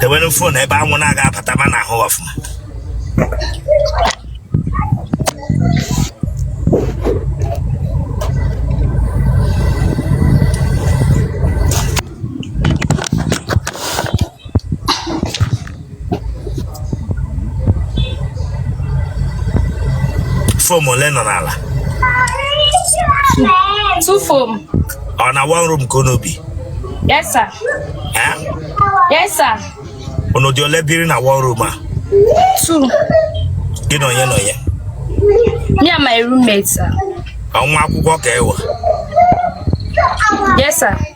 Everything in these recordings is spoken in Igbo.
dewere fon ebe anwụ na-aga abata ma na-ahụ ọfụma foam ole nọ n'ala two foam ọ na one room ka unu bi yes sir Eh? yes sir unu dị ole biri na one room a two gị na onye na onye me and my roommate sir Ọ nwa akwụkwọ ka ị wụ yes sir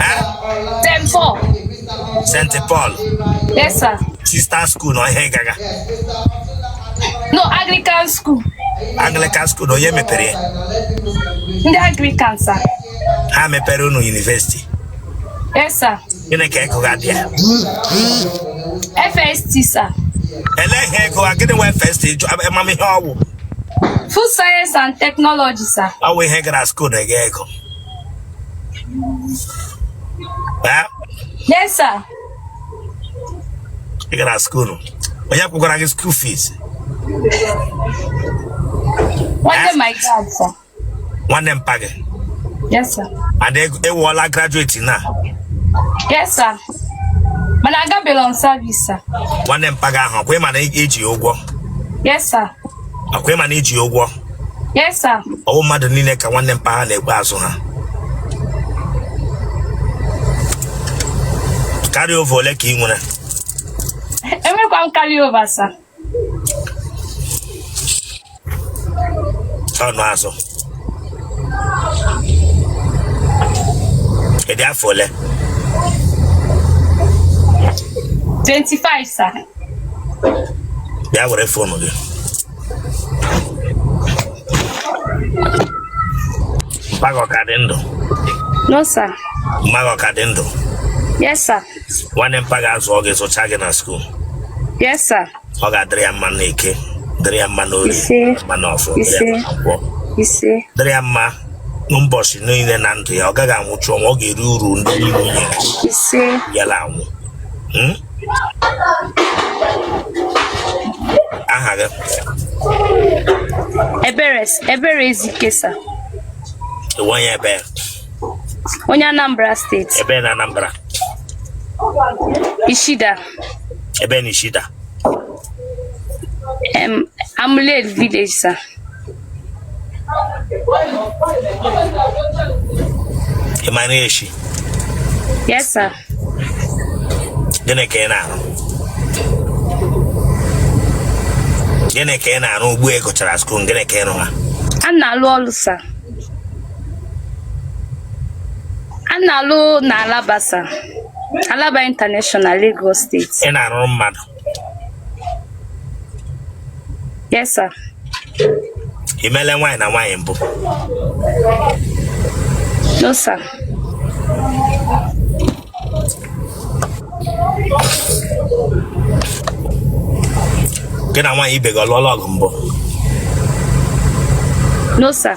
Eh? St. Paul. St. Paul Yes, sir. Sister School na onye gaga No, Anglican school. Anglican School na onye mepere ya Ndị Anglican, sir. ha mepere unu yunivesiti Yes, sir. gịnị ka ị gụga bịa FST, sir. elee ihe ị gụga gịnị wụ FST ama m ihe ọ wụ Food science and technology, sir. ọ wụ ihe ị gara skuul na ị ga-agụ Eh? Yes, sir. Ị gara skuul. Onye kwụkwara gị skuul fees? Nwanne eh? my dad, sir. Nwanne mpa gị? Yes, sir. And ị wụọla graduate na? Yes, sir. Mana agabela m service, sir. Nwanne mpa gị ahụ, ọkwa ị ma na i ji ụgwọ? Yes, sir. Ọkwa ị ma na i ji ụgwọ? Yes, sir. ọ wụ mmadụ niile ka nwanne mpa ha na-ekwe azụ ha carry over ole ka ị nwere Enwerọ m carry over, sir. ọnụ azụ ị dị afọ ole 25, sir. bịa were fonu gị Mpa gị ọ ka dị ndụ. No sir. Mma gị ọ ka dị ndụ. Yes sir. Nwanne mpa gị azụọ gị azụchaa gị na skuul. Yes sir. Ọ ga-adịrị ya mma n'Eke, dịrị ya mma n'Orie, mma n'Afọ, dịrị ya mma na Nkwọ. Dịrị ya mma n'ụbọchị niile na ndụ ya, ọ gaghị anwụchu ọnwụ, ọ ga-eri uru ndị niile nyere ya anwụ. Hmm? aha gị ebere ebere ezike sa onye ebee onye anambra steeti ebee na anambra ichida ebee na ichida em amuleri village sa ị ma na eshi yes sir gịnị ka ị na-arụ gịnị ka ị na-arụ ugbu a ị gụchara skuul gịnị ka ị rụwa a na-alụ ọlụ sa a na-alụ na alaba sa alaba international lagos steeti ị na-arụrụ mmadụ Yes, sir. Ị meele nwaanyị na nwaanyị mbụ? No, sir. Gị na nwaanyị ibe gị ọ lụọla ọgụ mbụ? No, sir.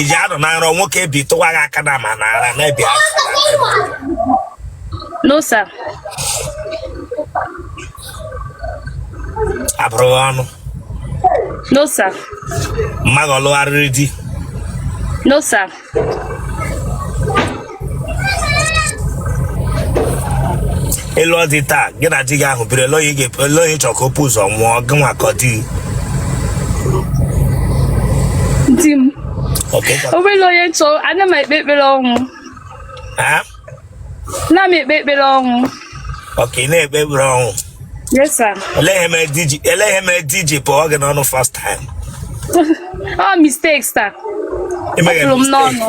ị ji anọ na nrọ nwoke ebitụwa gị aka na ma na ara na ebi ara no sir a bụrụ gị ọnụ no sir mma gị ọ lụgharịrị di no sir ị lụọ di taa gị na di gị ahụ biri elee onye ị chọrọ ka o pu ụzọ nwụọ gị nwa ka ọ di di m obere onye chọ ana m ekpe ekpere ọnwụ na m ekpe ekpere ọnwụ okay ị na-ekpe ekpere ọnwụ olee ihe mere di ji pụọ gị n'ọnụ first time ọ mistake sa ọ pụrụ m n'ọnụ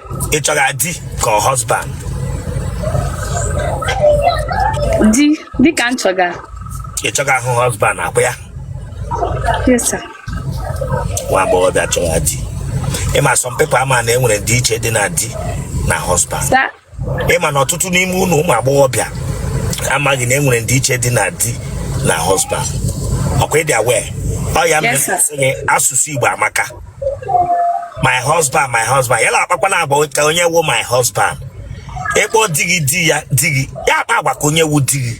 ị chọga di ka ọ husband di ka m chọga ị chọgahụ husband ọkwa ya yes sir nwa agbọghọbịa chọrọ di ị ma some people amahụ na e nwere ndịiche dị na di na husband sir ị ma na ọtụtụ n'ime unu ụmụ agbọghọbịa amaghị na e nwere ndịiche dị na di na husband ọkwa ị dị aware ọ ya mere Yes, sir. sị gị, asụsụ igbo amaka my husband my husband ya na-akpakwana agwa ka onye wu my husband ị kpọ di gị di ya di gị ya akpa agwa ka onye wu di gị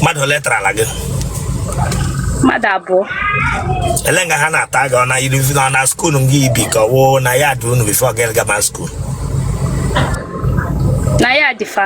mmadụ ole tarala gị mmadụ abụọ elee nga ha na-ata gị ọ na yunivesiti na ọ na skuul nga i bi ka ọ wụ na yard unu before gị gama skuul na yard fa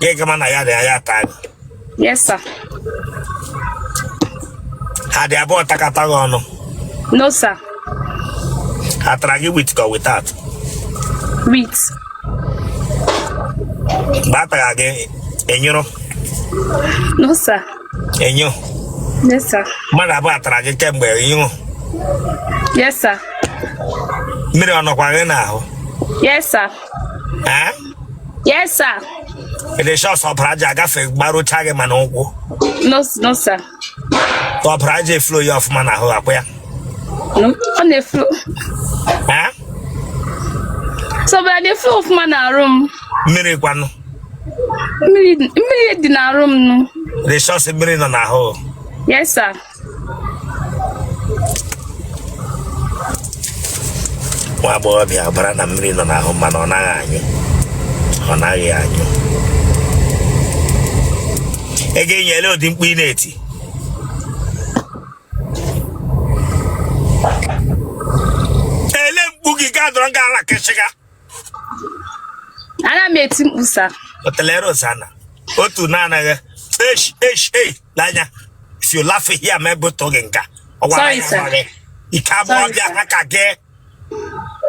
ya gama na ya na ya ata gị yes sir ha dị abụọ takata gị ọnụ no sir ha tara gị with ka without with mgbe a tara gị ị nyụrụ no sir enyo yes sir mmadụ abụọ atara gị kemgbe ị nyụrụ yes sir mmiri ọ nọkwa gị n'ahụ yes sir Yes, sir. Ị dị sure sị ọbara aja agafe gbarucha gị ma n'ụkwụ. No, no, sir. Ọbara aja eflow ya ọfụma n'ahụ ọ kwa ya. No, ọ na-eflow. Sir, ọbara aja eflow ọfụma n'arụ m. Mmiri kwanụ. Mmiri dị n'arụ m nụ. Ị dị sure sị mmiri nọ n'ahụ. Yes, sir. nwa agbọghọbịa ọbara na mmiri nọ n'ahụ mana ọ naghị anyụ ọ naghị anyụ ị ga-anyụ ele ụdị mkpu ị na-eti ele mkpu gị ga-adọrọ gị ala kịchịga ana m eti mkpu sir otele Rosana otu na-anaghị esh esh ei lanya if you laugh here m ebutu gị nga a ọ gwara Sorry, ya sir. nwa gị ike abụọ Sorry, bịa sir. ha ka gị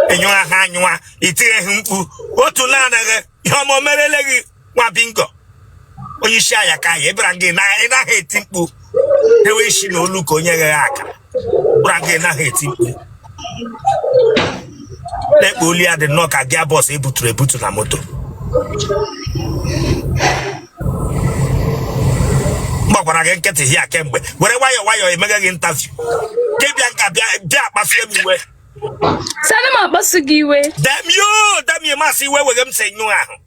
ịnyụwa ha anyụwa itigheghị mkpu otu na-anaghị ihe ọma o merele gị nwa bingo onye isi anya ka anyị ebara gị na ị naghị eti mkpu ewe isi na olu ka onye ghe aka bụra gị naghị eti mkpu lekwe olu ya dị nnọọ ka gearbox ebuturu ebutu na moto m gbakwara gị nkịtị here kemgbe were nwayọọ nwayọọ emeghe gị interview gị bịa nga a bịa bịa akpasie m iwe Sir ana m akpasu gị iwe. damn you damn you masị iwe weghe m si nyụ ahụ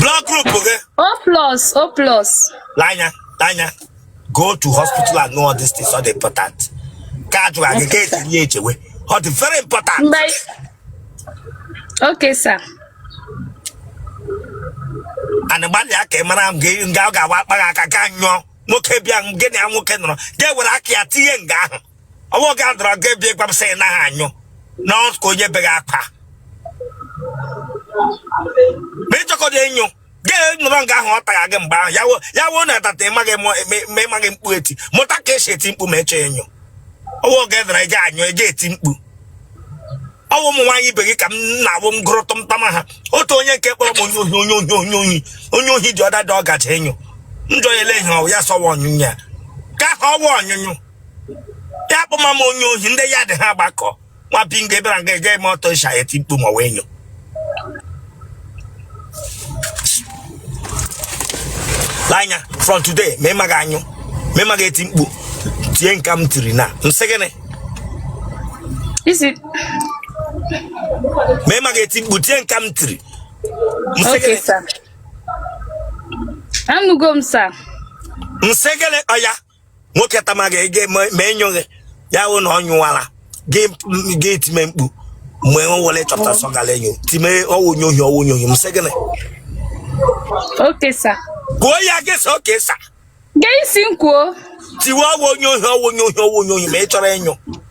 blood group gị O plus, O plus. lanya lanya go to hospital and know all these things ọ dị important ka a jụrụ gị ka etinye ya echewe ọ dị very important Mgbe anyị- Okay, sir. and gbalịa ka ị mara m gị nga ọ ga-awa akpa gị aka ka ị nyụọ nwoke bịa gị na ya nwoke nọrọ ga-ewere aka ya tinye nga ahụ ọwụ ga dọrọ gị bịa gwa m sị na ha anyụ na ọ ka onye beghị akwa ma ị chọkọta enyo gị nọrọ nga ahụ ọ tara gị mgbe ahụ ya wo- ya woo na atata ịmaghị mụ- eme- eme- ịmaghị mkpu eti mụta ka esi eti mkpu ma ị chọ enyo ọwụ ga dọrọ eje anyụ eje eti mkpu ọwụ ụmụ nwaanyị ibe gị ka m na-awụ m gụrụ tụmtama ha otu onye nke kpọrọ m onye ohi onye ohi onye ohi onye ohi dị ọda dị ọgacha enyo njọ ya ele ihe ọwụ ya sọwa ọnyụnye ya ka ha ọwa ọnyụnyụ ya kpọma m onye ohi ndị yard ha gbakọ nwa bingo ebere nga eje eme ọtọ ịsha eti mkpu ma wee nyo anya from today ma ịmaghị enyo ma ịmaghị eti mkpu tie nka m tiri na m sị gịnị ma ịmaghị eti mkpu tie nka m tiri m sị gịnị anụgo m sir m sị gịnị ọya nwoke tama ga ege ma ma enyoghị ya wụ na ọ nyowala gị m- gị time mkpu mgbe o were chọpụta sọ gara enyo time ọ wụ onye ohi ọ wụ onye ohi m sị gịnị okay sir kwuo ya gị sị okay sir gee isi m kwuo tiwe ọ wụ onye ohi ọ wụ onye ohi ọ wụ onye ohi ma ị chọrọ enyo